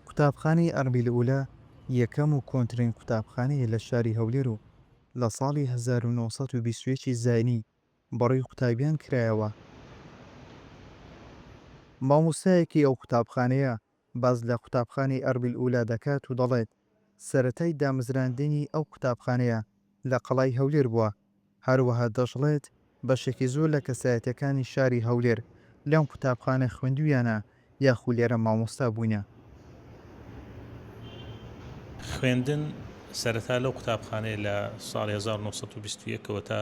قوتابخانەی ئەربیلئولە یەکەم و کۆنترین قوتابخانەیە لە شاری هەولێر و لە ساڵی هەزار و نۆ سەد و بیست و یەک ی زاینی بڕی قوتابیان کرایەوە. مامۆستایەکی ئەو قوتابخانەیە باس لە قوتابخانەی ئەربیلئولە دەکات و دەڵێت، سەرەتای دامەزراندنی ئەو قوتابخانەیە لە قەڵای هەولێر بووە، هەروەها دەشڵێت، بەشێکی زۆر لە کەسایەتییەکانی شاری هەولێر لەم قوتابخانە خوێندوویانە یاخو لێرە مامۆستا بووینە. خوێندن سەرەتا لەو قوتابخانەیە لە ساڵی هەزار و نۆ سەد و بیست و یەک ەوە تا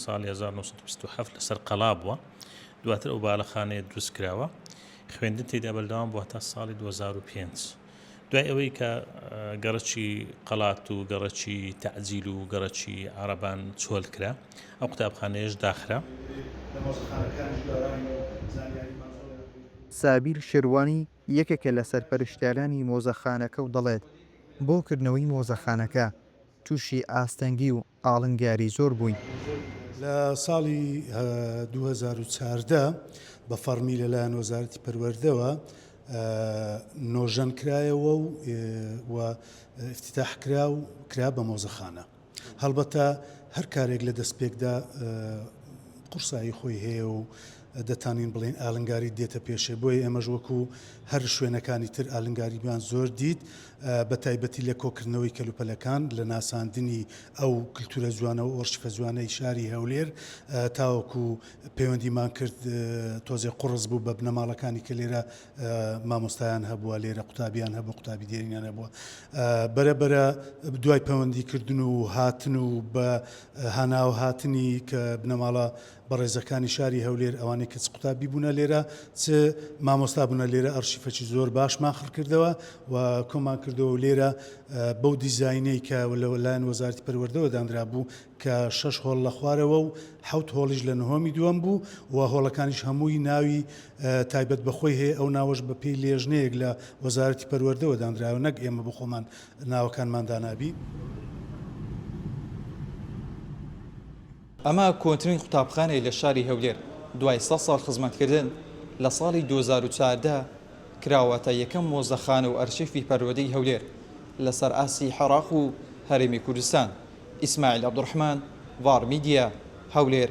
ساڵی هەزار و نۆ سەد و بیست و حەفت لەسەر قەڵا بووە، دواتر ئەو باڵەخانەیە دروستکراوە، خوێندن تێیدا بەردەوام بووە هەتا ساڵی دوو هەزار و پێنج. دوای ئەوەی کە گەڕەکی قەڵات و گەڕەکی تەعجیل و گەڕەکی عەڕەبان چۆل کرا، ئەو قوتابخانەیەش داخرا. سابیر شێروانی، یەکێکە لە سەرپەرشتیارانی مۆزەخانەکە و دەڵێت، بۆ کردنەوەی مۆزەخانەکە تووشی ئاستەنگی و ئاڵنگاری زۆر بووین. لە ساڵی دوو هەزار و چواردە بە فەڕمی لەلایەن وەزارەتی پەروەردەوە نۆژەن کرایەوە و ئیفتیتاح کرا و کرا بە مۆزەخانە. هەڵبەتە هەر کارێک لە دەستپێکدا قورسایی خۆی هەیە و دەتانوین بڵێین ئالنگاری دێتە پێشێ بۆیە ئێمەش وەکو هەر شوێنەکانی تر ئالنگاریمان زۆر دیت بە تایبەتی لە کۆکردنەوەی کەلوپەلەکان لە ناساندنی ئەو کللتورە جوانەوە ئۆرشفە جوانەی شاری هەولێر تاوەکو پەیوەندیمان کرد تۆزێ قڕس بوو بە بنەماڵەکانی کە لێرە مامۆستایان هەبووە لێرە قوتابیان هەبوو قوتابی دێرینان هەبووە بەرەبەرە دوای پەیوەندی کردن و هاتن و بە هاناو هاتنی کە بنەماڵە بەڕێزەکانی شاری هەولێر ئەوانەی کە چ قوتابی بوونە لێرە چ مامۆستا بوونە لێرە ئەڕشیفەکی زۆر باشمان خڕ کردەوە و کۆمان کردەوە و لێرە بەو دیزاینەی کە لە لایەن وەزارەتی پەروەردەوە دانرا بوو کە شەش هۆڵ لە خوارەوە و حوت هۆڵیش لە نهۆمی دووەم بوو و هۆڵەکانیش هەمووی ناوی تایبەت بەخۆی هەیە ئەو ناوەش بە پێی لێژنەیەک لە وەزارەتی پەروەردەوە دانراوە نەک ئێمە بخۆمان ناوەکانمان دانابی. ئەمە کۆنترین قوتابخانەیە لە شاری هەولێر، دوای سەد ساڵ خزمەتکردن، لە ساڵی دوو هەزار و چواردە کراوەتە یەکەم مۆزەخانە و ئەرشیفی پەروەردەی هەولێر لەسەر ئاستی حێراق و هەرێمی کوردستان. ئیسماعیل عەبدولڕەحمان، ڤاڕ میدیا، هەولێر.